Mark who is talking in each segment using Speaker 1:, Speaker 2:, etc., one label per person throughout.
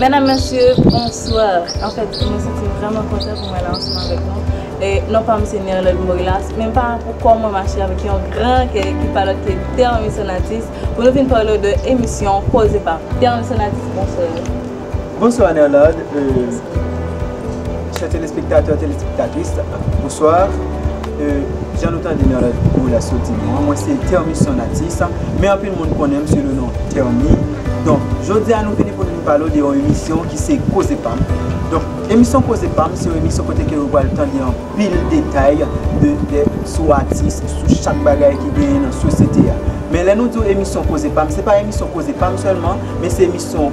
Speaker 1: Medam, Mesye, bonswa! An fèt, mwen santi m vrèman kontan pou mwen la ansanm avèk nou. E, non pa m se Nerlande Morilas, men pa pou kò mwen mache avèk yon gran kè ki pa lòt ke Terme Sonatus pou nou vin pale w de emisyon Koze Pam. Terme Sonatus, bonswa! Bonswa,
Speaker 2: Nerlande. E. Chè telespektatè, telespektatris, bonswa. Jan nou tande nan entwo la soti nou an, mwen se Termisson Atis, men anpil moun konnen m sou le non Termi. Donk, jodi a nou vini pou nou pale w de yon emisyon ki se Koze Pam. Donk, emisyon Koze Pam se yon emisyon kote ke ou pral tande anpil detay de, sou atis, sou chak bagay ki genyen nan sosyete a. Men lè nou di w emisyon Koze Pam, se pa emisyon Koze Pam sèlman, men se emisyon.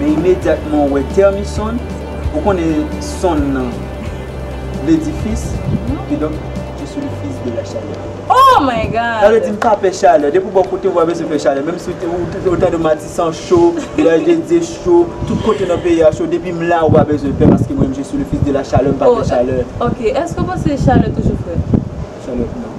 Speaker 2: Men imedyatman ou wè tèmi sonn, ou konnen sonn nan vle di fis, kidonk je suis le fils de la chaleur. Oh my God!
Speaker 1: Sa vle di m pa pè chalè.
Speaker 2: Depi w bò kote m pa bezwen pè chalè. Menm si ou tande Matisan cho, Vilaj de Dye cho, tout kote nan peyi a cho, depi m la ou pa bezwen pè paske mwen menm je suis le fils de la chaleur, m pa pè chalè. Ok, èske w panse
Speaker 1: chalè toujou frèt? Chalè, non.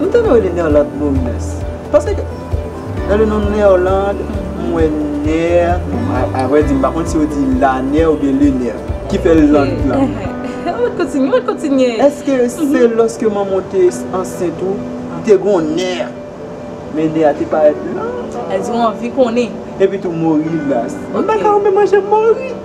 Speaker 2: M tande yo rele Nerlande Moïnes. M panse ke nan le non Nerlande, m wè Ner. A vrè di, m pa konn si yo di la Ner ou byen le Ner. Ki fè Lande la. An mwen t kontinye,
Speaker 1: mwen t kontinye. Eske se
Speaker 2: lòske manman w te ansent ou, li te gen yon Ner. Men Ner a te parèt lan. Eske ou anvi
Speaker 1: konnen? Epitou Morilas.
Speaker 2: M pa ka wè menm anje Mori.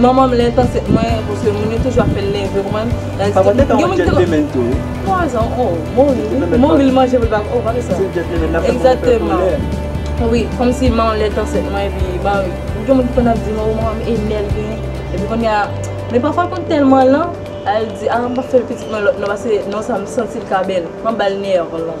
Speaker 1: Manman m lèd paske mwen paske moun yo toujou ap fèl nève konprann. Papa m te ka yon
Speaker 2: gentleman tou wi. 3 zan oh
Speaker 1: mouri wi mouri li manje pou l pa oh pa fè sa. Se yon gentleman nap fè moun fè koulè. Wi komsi manman m lèd ansent mwen epi manmanm gen moun ki konn ap di oh manman m enève epi konnya men pafwa l konn tèlman lan al di ah m pap fè l pitit mwen lòt non paske non sa m santi l ka bèl m ap ba l nèv lan.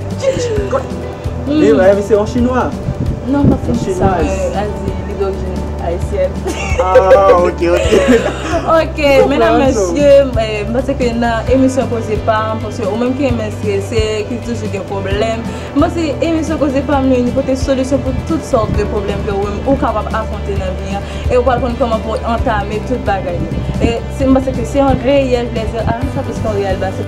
Speaker 2: Li menm se yon chinwa? Non pa se chinwa
Speaker 1: men al di li dorijin ayisyèn. Ah
Speaker 2: ok ok. Ok
Speaker 1: menam mesye m panse ke nan emisyon koze pam paske ou menm ki renmen strese ki toujou gen pwoblèm m panse emisyon koze pam li li pote solisyon pou tout sòt de pwoblèm ke ou menm ou kapab afwonte nan vi an e ou pral konn kòman pou ou antame tout bagay yo e m panse ke se yon reyèl plezi a sa plis ke yon reyèl ba se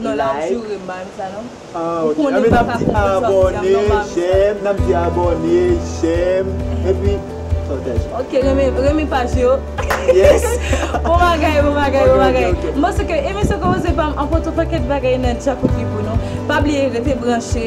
Speaker 1: Non la ap joure m bay m sa non.
Speaker 2: Ah ok anben nap di abòne jèm nap di abòne jèm epi pataj. Ok renmen
Speaker 1: paj yo. Yes.
Speaker 2: Bon bagay
Speaker 1: bon bagay bon bagay. Ok ok ok. M panse ke emisyon komanse pa m anpote yon pakèt bagay nan djakout li pou nou. Pa bliye rete branche.